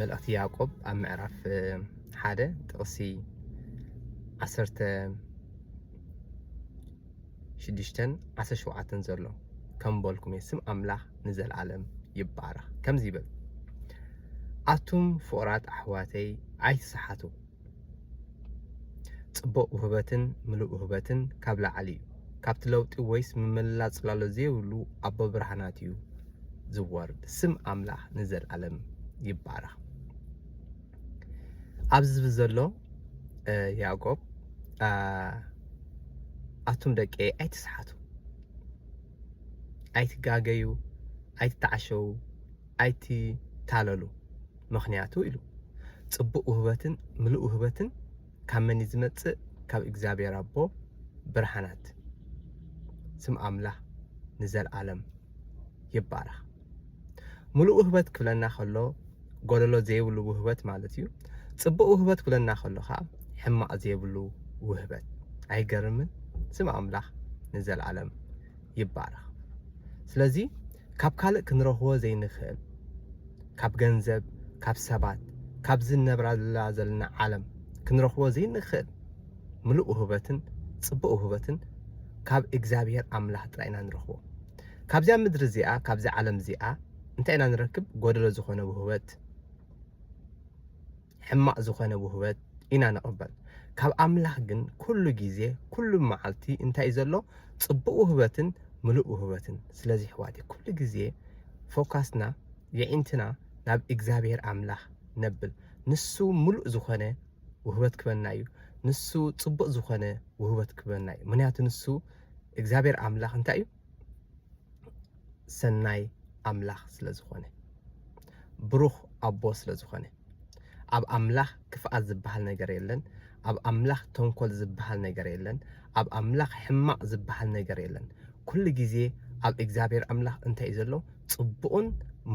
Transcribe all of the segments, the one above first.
መልእኽቲ ያዕቆብ ኣብ ምዕራፍ ሓደ ጥቕሲ ዓሰርተ ሽዱሽተን ዓሰርተ ሸውዓተን ዘሎ ከም በልኩም እየ ስም ኣምላኽ ንዘለኣለም ይባረኽ ከምዚ ይብል ኣቱም ፍቑራት ኣሕዋተይ ኣይትስሓቱ ጽቡቕ ውህበትን ምሉእ ውህበትን ካብ ላዕሊ እዩ። ካብቲ ለውጢ ወይስ ምምልላስ ጽላሎት ዘይብሉ ኣቦብርሃናት እዩ ዝወርድ። ስም ኣምላኽ ንዘልኣለም ይባረኽ። ኣብዚ ዝብል ዘሎ ያዕቆብ ኣቱም ደቂ ኣይትስሓቱ፣ ኣይትጋገዩ፣ ኣይትተዓሸዉ፣ ኣይትታለሉ ምኽንያቱ ኢሉ ጽቡቅ ውህበትን ምሉእ ውህበትን ካብ መን እዩ ዝመጽእ ካብ እግዚኣብሔር ኣቦ ብርሃናት ስም ኣምላኽ ንዘልኣለም ይባረኽ ምሉእ ውህበት ክብለና ከሎ ጎደሎ ዘይብሉ ውህበት ማለት እዩ ጽቡቅ ውህበት ክብለና ከሎ ከዓ ሕማቅ ዘይብሉ ውህበት ኣይገርምን ስም ኣምላኽ ንዘልኣለም ይባረኽ ስለዚ ካብ ካልእ ክንረኽቦ ዘይንኽእል ካብ ገንዘብ ካብ ሰባት ካብዚ ንነብረላ ዘለና ዓለም ክንረኽቦ ዘይንኽእል ምሉእ ውህበትን ጽቡቕ ውህበትን ካብ እግዚኣብሔር ኣምላኽ ጥራይ ኢና ንረኽቦ ካብዚያ ምድሪ እዚኣ ካብዚ ዓለም እዚኣ እንታይ ኢና ንረክብ ጎደሎ ዝኾነ ውህበት ሕማቅ ዝኮነ ውህበት ኢና ንቅበል ካብ ኣምላክ ግን ኩሉ ግዜ ኩሉ ማዓልቲ እንታይ እዩ ዘሎ ጽቡቅ ውህበትን ምሉእ ውህበትን ስለዚ ኣሕዋተይ ኩሉ ግዜ ፎካስና የዒንትና ናብ እግዛብሄር ኣምላክ ነብል ንሱ ምሉእ ዝኮነ ውህበት ክበና እዩ ንሱ ጽቡቅ ዝኮነ ውህበት ክበና እዩ ምክንያቱ ንሱ እግዛብሄር ኣምላክ እንታይ እዩ ሰናይ ኣምላክ ስለ ዝኮነ ብሩክ ኣቦ ስለ ዝኮነ ኣብ ኣምላኽ ክፍኣት ዝብሃል ነገር የለን ኣብ ኣምላኽ ተንኮል ዝብሃል ነገር የለን ኣብ ኣምላኽ ሕማቅ ዝብሃል ነገር የለን ኩሉ ግዜ ኣብ እግዚኣብሔር ኣምላኽ እንታይ እዩ ዘሎ ጽቡቅን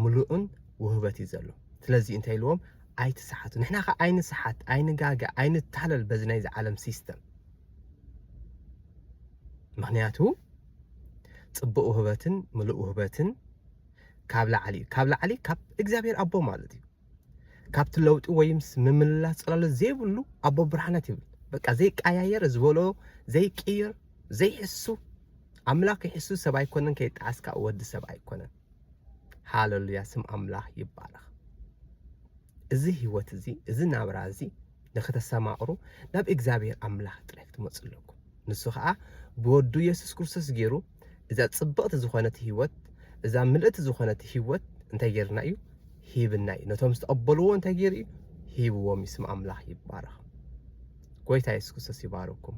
ምሉእን ውህበት እዩ ዘሎ ስለዚ እንታይ ኢልዎም ኣይትስሓቱ ንሕና ከ ኣይንስሓት ኣይንጋገ ኣይንታለል በዚ ናይዚ ዓለም ሲስተም ምክንያቱ ጽቡቅ ውህበትን ምሉእ ውህበትን ካብ ላዕሊ እዩ ካብ ላዕሊ ካብ እግዚኣብሔር ኣቦ ማለት እዩ ካብቲ ለውጢ ወይምስ ምምልላስ ጽላሎት ዘይብሉ ኣቦ ብርሃናት ይብል በቃ ዘይቀያየር ዝበሎ ዘይቅይር ዘይሕሱ ኣምላኽ ይሕሱ ሰብ ኣይኮነን ከይጣዓስካ ወዲ ሰብ ኣይኮነን ሃለሉያ ስም ኣምላኽ ይባረኽ እዚ ህይወት እዚ እዚ ናብራ እዚ ንክተሰማቕሩ ናብ እግዚኣብሔር ኣምላኽ ጥራይ ክትመጹ ኣለኩም። ንሱ ከኣ ብወዱ የሱስ ክርስቶስ ጌሩ እዛ ጽብቕቲ ዝኾነት ህይወት እዛ ምልእቲ ዝኾነት ህይወት እንታይ ጌርና እዩ ሂብና እዩ። ነቶም ዝተቐበልዎ እንታይ ጌሩ እዩ ሂብዎም እዩ። ስም ኣምላኽ ይባረኽ። ጎይታ የሱስ ክርስቶስ ይባርኩም።